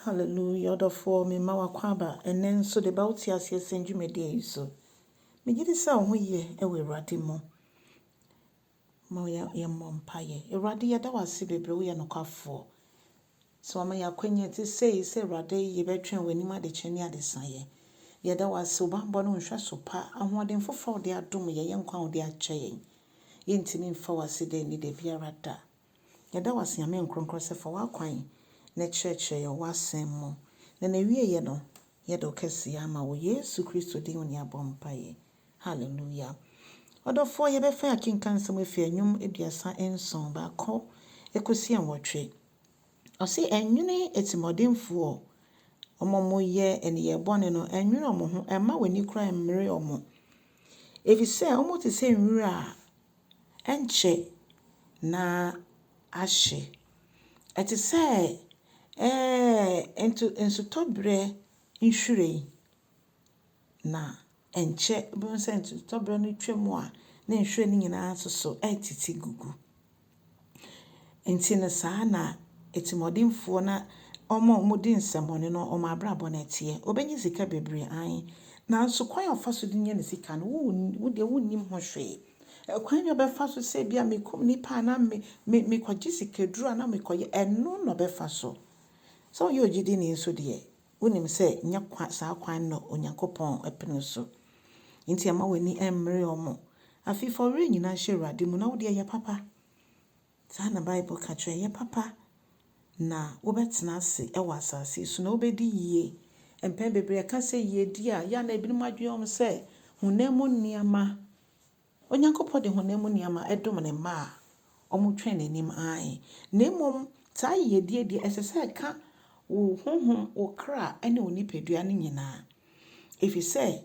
Hallelujah ɔdɔfoɔ me mma w'akwaaba ɛnnɛ nso de ba wo te aseɛ sɛn dwumadie yi so. Megye di sɛ wo ho yɛ ɛwɔ Awurade mu. Ma yɛ yɛ mmɔ mpaeɛ. Awurade yɛda wo ase bebree woyɛ nokwafoɔ. Sɛ wama yɛ akwanya te sei sɛ Awurade yɛbɛtwɛn w'anim adekyɛ ne adesaeɛ. Yɛda wo ase wo bammɔ ne wo nhwɛso pa ahoɔden foforɔ a wode adom yɛ yɛ nkwa a wode akyɛ yɛn. Yɛntumi mfa wo ase da nni da biara da. Yɛda wo ase, Nyame Nkorɔnkorɔ, sɛ fa w'akwan na kyerɛkyerɛ yɛn wɔ w'asɛm mu. Na n'awieɛ no, yɛde wo kɛseyɛ ama wo, Yesu Kristo din mu ne yɛabɔ mpaeɛ. Hallelujah. Ɔdɔfoɔ, yɛbɛfa akenkan nsɛm afi Ɛnwom aduasa nson, baako kɔsi nwɔtwe. Ɔse, Ɛnwene atirimuɔdenfoɔ, wɔn a wɔyɛ nneyɛɛ bɔne no, ɛnwene wɔn ho, mma w'ani koraa mmere wɔn, ɛfiri sɛ wɔte sɛ nwura a ɛnkyɛ na ahye. Ɛte sɛ ɛɛ nsutɔberɛ nhwiren, na ɛnkyɛ wobɛhu sɛ nsutɔberɛ no twaam a na nhwiren no nyinaa soso retete gugu. Enti no saa na atirimuɔdenfoɔ na wɔn a wɔdi nsɛmmɔne no wɔn abrabɔ no teɛ. Wɔbɛnya sika bebree aane, nanso kwan a ɔfa so de nya ne sika no, wo wo deɛ wonnim ho hwee. Kwan na ɔbɛfa so sɛ ebia mekum nnipa anaa me me mekɔgye sikaduro anaa mekɔyɛ, ɛno na ɔbɛfa so. Sɛ woyɛ ogyidini nso deɛ, Wonim sɛ nyɛ kwa saa kwan no na Onyankopɔn pene so. Enti mma w'ani mmere wɔn. Afei fa wo werɛ nyinaa hyɛ Awurade mu, na wo deɛ, yɛ papa. Saa na Bible ka kyerɛ yɛn. Yɛ papa, na wobɛtena ase wɔ asase yi so, na wobɛdi yie. Mpɛn bebree yɛka sɛ yiedie a, yɛ a na ebinom adwene wɔn sɛ honam mu nneɛma. Onyankopɔn de honam mu nneɛma dom ne mma a wɔtwɛn n'anim ae, na mmom saa yiyedi yi de, ɛsɛ sɛ ɛka wo honhom, wo kra, ne wo nipadua no nyinaa. Efisɛ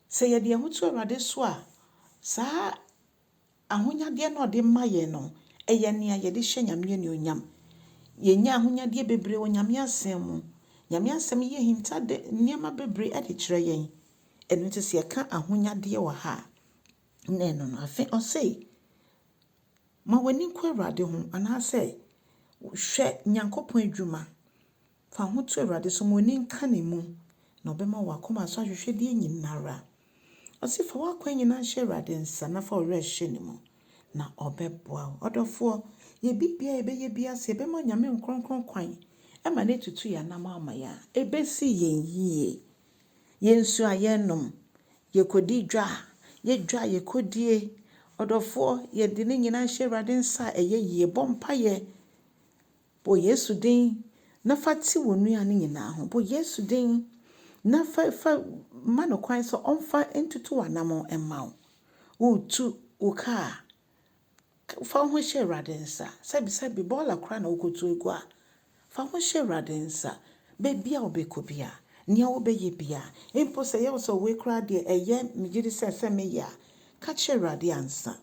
sɛ yɛde yɛn ho to Awurade so a, saa ahonyadeɛ no a ɔde ma yɛn no, ɛyɛ nea yɛde hyɛ Nyame anuonyam. Yɛnya ahonyadeɛ bebree wɔ Nyame Asɛm mu. Nyame Asɛm yi ahinta de nneɛma bebree de kyerɛ yɛn. Ɛno nti sɛ yɛka ahonyadeɛ wɔ ha a, na ɛno no. Afei ɔse, ma w'ani nkɔ Awurade ho, anaasɛ hwɛ Nyankopɔn adwuma, fa ho to Awurade so, ma w'ani nka ne mu, na ɔbɛma w'akoma so ahwehwɛdeɛ nyinara. Ɔse, fa w'akwan nyinaa hyɛ Awurade nsa, na fa wo werɛ hyɛ ne mu, na ɔbɛboa wo. Ɔdɔfoɔ, yɛ biribiara a yɛbɛyɛ biara, sɛ yɛbɛma Onyame Nkronkron kwan, ma no atutu yɛn anamɔ ama yɛn a, ɛbɛsi yɛn yie. Yɛ nsuo a yɛrenom, yɛkɔdi dwa a yɛdwa a yɛkɔdie. Ɔdɔfoɔ, yɛde ne nyinaa hyɛ Awurade nsa a ɛyɛ yie. Bɔ mpaeɛ, bɔ Yesu din na fa te wo nua no nyinaa ho. Bɔ Yesu din na fa, fa ma no kwan sɛ ɔmfa ntutu w'anammɔn mma wo. Woretu wo kaa a, Fa wo ho hyɛ Awurade nsa. Sɛbi sɛbi bɔɔla koraa na wokotu agu a, fa wo ho hyɛ Awurade nsa. Baabi a wobɛkɔ biara, nea wobɛyɛ biara, mpo sɛ ɛyɛ wo sɛ wei koraa deɛ ɛyɛ megye di sɛ ɛsɛ meyɛ a, ka kyerɛ Awurade ansa.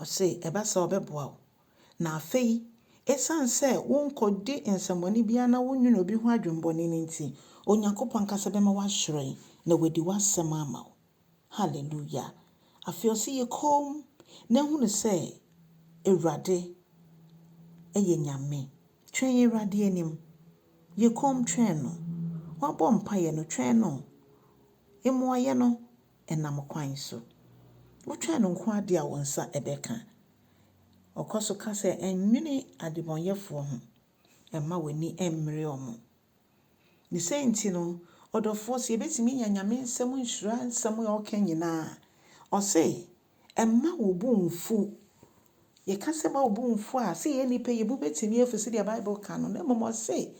Ɔse ɛba saa ɔbɛboa wo. Na afei, ɛsiane sɛ wonkɔdi nsɛmmɔne biara na wonnwene obi ho adwemmɔne no nti, Onyankopɔn ankasa bɛma woahyerɛn na wadi w'asɛm ama wo. Hallelujah! Afei ɔse yɛ komm na hunu sɛ Awurade yɛ Nyame. Twɛn Awurade anim. Yɛ komm twɛn no. Wabɔ mpaeɛ no, twɛn no. Mmuaeɛ no nam kwan so. Wotwɛn no nko ara deɛ a wo nsa bɛka. Ɔkɔ so ka sɛ, Nnwene adebɔnyɛfoɔ ho. Mma w'ani mmere wɔn. Ne saa nti no, ɔdɔfoɔ, sɛ yɛbɛtumi anya Nyame nsɛm nhyira nsɛm a ɔka nyina a, ɔse, mma wo bo mmfu. Yɛka sɛ mma wo bo mmfu a, sɛ yɛn nnipa yi, yɛn bo bɛtumi afu sɛdeɛ Bible ka no, na mmom ɔse,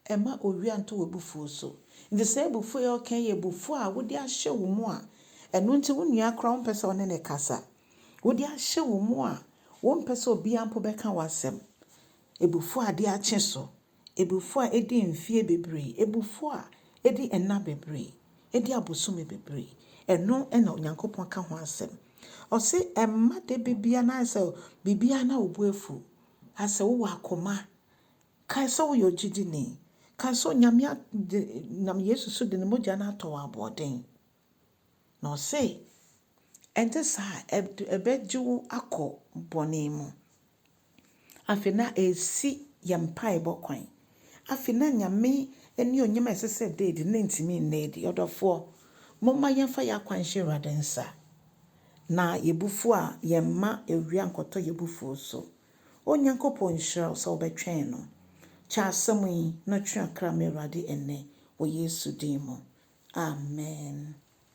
mma owia nto w'abufuo so. Nti saa abufuo yi a ɔka yi yɛ abufuo a wode ahyɛ wo mu a ɛno nti wo nua koraa wompɛ sɛ ɔne no kasa. Wode ahyɛ wo mu a wompɛ sɛ obiara mpo bɛka w'asɛm. Abufuo a ade akye so. abufuo a ɛdi mfeɛ bebree, abufuo a ɛdi nna bebree, ɛdi abosome bebree, ɛno na Onyankopɔn ka ho asɛm. Ɔse ɛmma da bebia na ayɛ sɛ biribiara na wo bo afu, ayɛ sɛ wowɔ akoma. Kae sɛ woyɛ ɔgyidini. Kae sɛ Onyame nam Yesu so de ne mogya no atɔ wo aboɔden. Na ɔse, Ɛnte saa a, ɛd ɛbɛgye wo akɔ bɔne mu. Afei na ɛresi yɛn mpaebɔ kwan. Afei na Nyame anuonyam a ɛsɛ sɛ ɛda adi no, na ɛntumi nna adi. Ɔdɔfoɔ, momma yɛmfa yɛn akwan nhyɛ Awurade nsa, na yɛn abufuo a, yɛmma awia nkɔtɔ yɛn abufuo so. O Nyankopɔn nhyira wo sɛ wobɛtwɛn no. Kyɛ asɛm yi na twe akra ma Awurade ɛnnɛ, wɔ Yesu din mu. Amen.